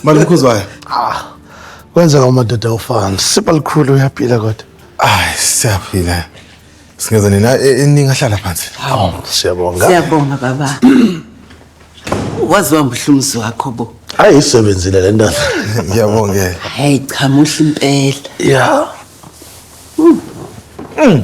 Manje ukhuzwayo. Ah. Kwenzeka umadoda ufana. Sipa likhulu uyaphila kodwa. Ay, siyaphila. Singeza nina e, e, ningahlala phansi. Hawu, siyabonga. Siyabonga baba. Wazi wambuhlumzi wakho bo. Hayi isebenzile le ndoda. Ngiyabongela. Hayi cha muhle impela. Yeah. Mm. Mm.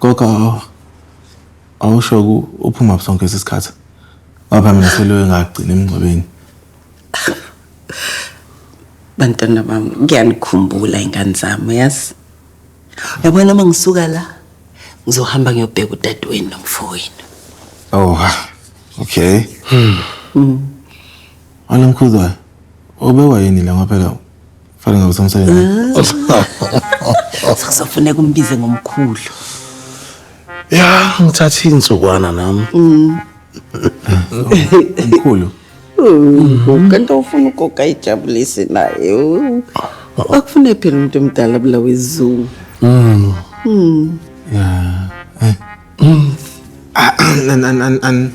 Gogo awusho uphuma sonke isikhathi. Baba mina seloyo ngagcina emngcwabeni. Bantwana bami ngiyanikhumbula ingane zami yazi. Yabona uma ngisuka la ngizohamba ngiyobheka udadewenu nomfowenu. Oh. Okay. Hmm. Alamkhuzwayo. Obewa yini la ngoba phela Fana ngabe sengisebenza. Sekuzofuneka umbize ngomkhulu. Ya, ngithatha insukwana nami. Mkhulu. Kanti ufuna ugoga ijabulise naye. u- Akufune phela umuntu omdala bulawa izungu. Mm. Mm. Yeah. Eh. Mm. Ah, an an an an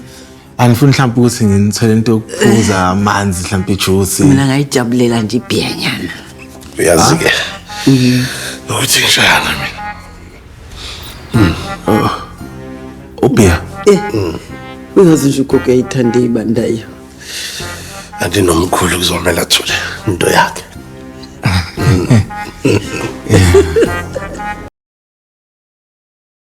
anifuni mhlawumbe ukuthi nginithole into yokuphuza amanzi mhlawumbe ijuice mina ngayijabulela nje ibhiyanyana uyazi ke nokuthi ngishayana mina hmm. oh. ubhiya eh. hmm. uyazi nje ugogo yayithande ibandayo andinomkhulu kuzomela athule into yakhe hmm.